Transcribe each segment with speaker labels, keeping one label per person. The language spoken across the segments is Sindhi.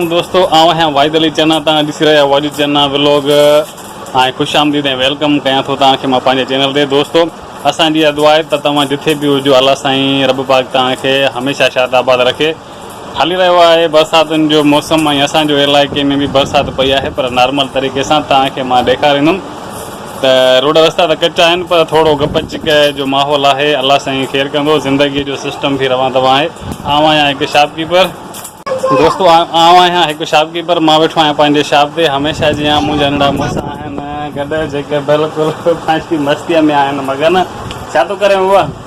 Speaker 1: دوستو آئون آهيان واحد علي چنا تان ڏسي رهيا واحد علي چنا ولاگ ۽ خوش آمديد ۽ ويلڪم ڪيان ٿو تان کي مان پنهنجي چينل تي دوستو اسان جي اها دعا آهي ته توهان جٿي به هجو الله سائين رب پاڪ تان کي هميشه شاد آباد رکي هلي رهيو آهي برساتن جو موسم ۽ اسان جو علائقي ۾ به برسات پئي آهي پر نارمل طريقي سان توهان کي مان ڏيکاريندم ته روڊ رستا ته ڪچا آهن پر ٿورو گپ چڪ جو ماحول آهي الله سائين خير ڪندو زندگي جو سسٽم به روان دوان آهي آئون آهيان هڪ شاپ ڪيپر دوستو آئون آهيان هڪ شاپ ڪيپر مان ويٺو آهيان پنهنجي شاپ تي هميشه جيان منهنجا ننڍا مڙس آهن گڏ جيڪي بلڪل پنهنجي مستيء ۾ آهن مگن ڇا ٿو ڪرين بابا.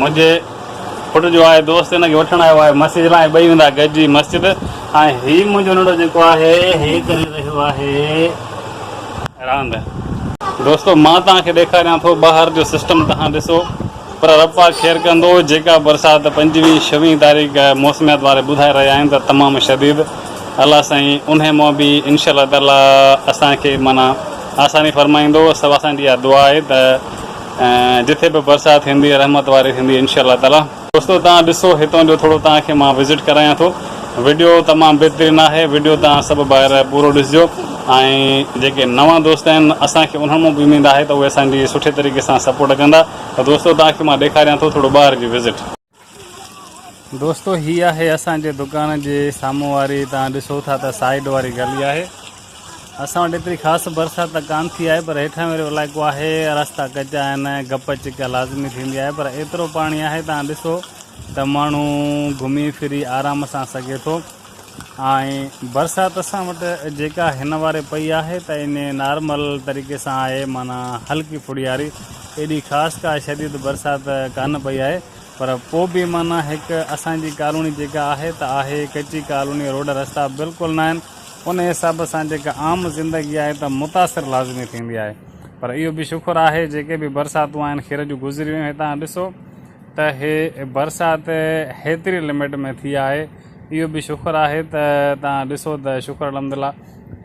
Speaker 1: منهنجي پٽ جو آء دوست ان کي وٺڻ آيو آهي مسجد لاء ۽ ٻئي ويندا گڏجي مسجد ۽ هي منهنجو ننڍو جيڪو آهي هي ڪري رهيو آهي راند. دوستو مان توهان کي ڏيکاريان ٿو ٻاهر جو سسٽم توهان ڏسو پر رب پاڪ خير ڪندو جيڪا برسات پنجويهين ڇويهين تاريخ موسميات واري ٻڌائي رهيا آهن ته تمام شديد الله سائين انهي مان به انشاء الله تعالي اسان کي معنيٰ آساني فرمائيندو سو اسان جي اها دعا آهي ته جتي به برسات ٿيندي رحمت واري ٿيندي انشاء الله تعاليٰ. دوستو توهان ڏسو هتان جو ٿورو توهان کي مان وزٽ ڪرايان ٿو وڊيو تمام بهترين آهي وڊيو توهان سڀ ڀائر پورو ڏسجو ۽ جيڪي نوان دوست آهن اسان کي انهن مان به اميد آهي ته اهي اسان جي سٺي طريقي سان سپورٽ ڪندا ته دوستو توهان کي مان ڏيکاريان ٿو ٿورو ٻاهر جي وزٽ. دوستو هي آهي اسان جي دڪان جي سامهون واري توهان ڏسو ٿا ته سائيڊ واري گلي آهي اسان وٽ ايتري خاص برسات ته ڪان ٿي آهي پر هيٺان وارو علائقو آهي رستا ڪچا آهن گپ چڪ لازمي ٿيندي آهي پر ايترو پاڻي آهي توهان ڏسو ته ماڻهو گهمي ڦري آرام سان سگهي ٿو ۽ برسات اسان وٽ جيڪا هن واري پئي آهي ته ان نارمل طريقي سان آهي معنيٰ هلڪي ڦڙياري ايڏي خاص ڪا شديد برسات ڪانه پئي آهي پر پو به معنيٰ هڪ اسان جي ڪالوني جيڪا آهي ته آهي ڪچي ڪالوني روڊ رستا بلڪل ناهن ان حساب سان جيڪا عام زندگي آهي ته متاثر لازمي ٿيندي آهي پر اهو به شڪر آهي جيڪي به برساتون آهن خير جون گذري ويون هتان ڏسو ته هي برسات هيتري لمٽ ۾ ٿي آهي اهو به شڪر آهي ته توهان ڏسو ته شڪر الحمدلله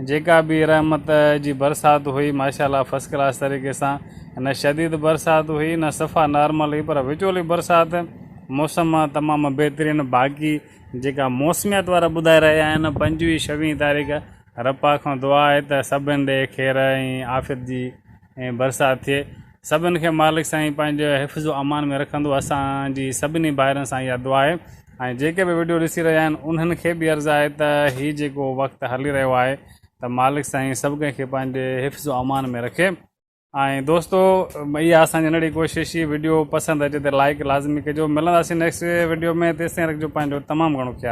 Speaker 1: جيڪا به رحمت جي برسات هئي ماشاءالله فرسٽ ڪلاس طريقي سان نه شديد برسات هئي نه صفا نارمل هئي پر وچولي برسات موسم تمام بهترين باقي جيڪا موسميات وارا ٻڌائي رهيا آهن پنجويهه شويهه تاريخ رپا کان دعا آهي ته سڀن ڏي خير ۽ عافيت جي ۽ برسات ٿئي سڀن کي مالڪ سائين پنهنجي حفظ و امان ۾ رکندو اسانجي سڀني ڀائرن سان اها دعا آهي ۽ جيڪي به وڊيو ڏسي رهيا آهن انهن کي به عرض آهي ته هي جيڪو وقت هلي رهيو آهي ته مالڪ سائين سڀ ڪنهن کي پنهنجي حفظ و امان ۾ رکي ۽ دوستو اها اسانجي ننڍڙي ڪوشش هي وڊيو پسند اچي ته لائڪ لازمي ڪجو ملنداسين نيڪسٽ وڊيو ۾ تيستائين رکجو پنهنجو تمام گهڻو خيال